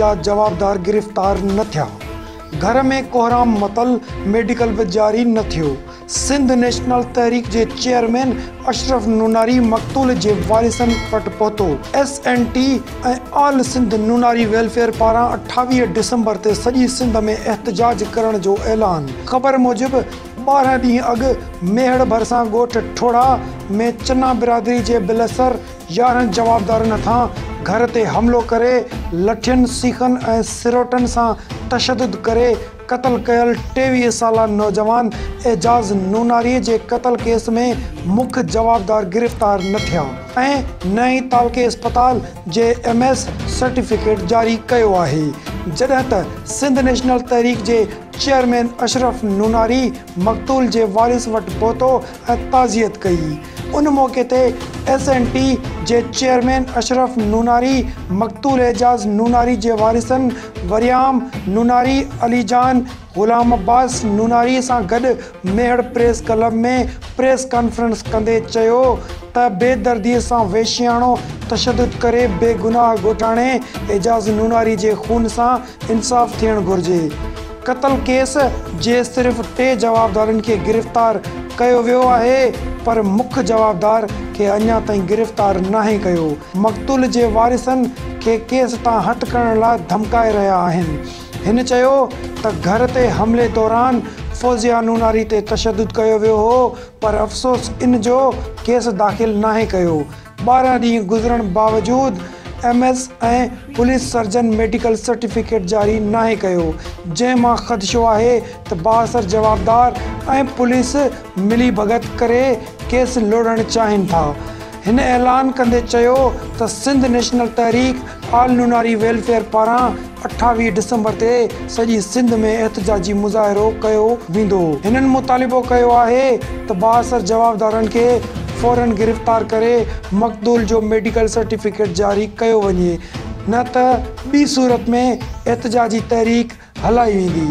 جا جوابدار گرفتار نه ٿيا، گهر ۾ ڪوهرام متل ميڊيڪل به جاري نه ٿيو، سنڌ نيشنل تحريڪ جي چيئرمين اشرف نوناري مقتول جي وارثن وٽ پهتو، S N T ۽ All Sindh Nonari welfare پاران اٺاويهه ڊسمبر تي سڄي سنڌ ۾ احتجاج ڪرڻ جو اعلان، خبر موجب ٻارهن ڏينهن اڳ ميهڙ ڀرسان ڳوٺ ٺوڙها ۾ چنا برادري جي بلسر، يارهن جوابدارن هٿان گهر تي حملو ڪري لٺين، سيخن ۽ سروٽن سان تشدد ڪري قتل ڪيل ٽيويهه سالا نوجوان اعجاز نوناري جي قتل ڪيس ۾ مک جوابدار گرفتار نه ٿيا ۽ نه ئي تعلقي اسپتال جي ايم ايس سرٽيفڪيٽ جاري ڪيو آهي جڏهن ته سنڌ نيشنل تحريڪ جي چيئرمين اشرف نوناري مقتول جي وارث وٽ پهتو ۽ تعزيت ڪئي. ان موقعي تي ايس اين ٽي جي چيئرمين اشرف نوناري، مقتول اعجاز نوناري جي وارثن وريام نوناري، علي جان، غلام عباس نوناري سان گڏ Mehar press club ۾ press conference ڪندي چيو ته بي دردي سان وحشياڻو تشدد ڪري بيگناهه ڳوٺاڻي اعجاز نوناري جي خون سان انصاف ٿيڻ گهرجي، قتل ڪيس جي صرف ٽي جوابدارن کي گرفتار ڪيو ويو آهي پر مک جوابدار کي اڃا تائين گرفتار ناهي ڪيو، مقتول جي وارثن کي ڪيس تان هٿ کڻڻ لاء ڌمڪائي رهيا آهن، هن چيو ته گهر تي حملي دوران فوزيا نوناري تي تشدد ڪيو ويو هو پر افسوس ان جو ڪيس داخل ناهي ڪيو، ٻارهن ڏينهن گذرڻ باوجود M S ۽ police surgeon medical certificate جاري ناهي ڪيو، جنهن مان خدشو آهي ته بااثر جوابدار ۽ پوليس ملي ڀڳت ڪري ڪيس لوڙهڻ چاهين ٿا. هن اعلان ڪندي چيو ته Sindh National Tehreek All Nonari welfare پاران اٺاويهه ڊسمبر تي سڄي سنڌ ۾ احتجاجي مظاهرو ڪيو ويندو، هنن مطالبو ڪيو آهي ته بااثر جوابدارن کي فورن گرفتار ڪري مقتول جو ميڊيڪل سرٽيفڪيٽ جاري ڪيو وڃي نه ته ٻي صورت ۾ احتجاجي تحريڪ هلائي ويندي.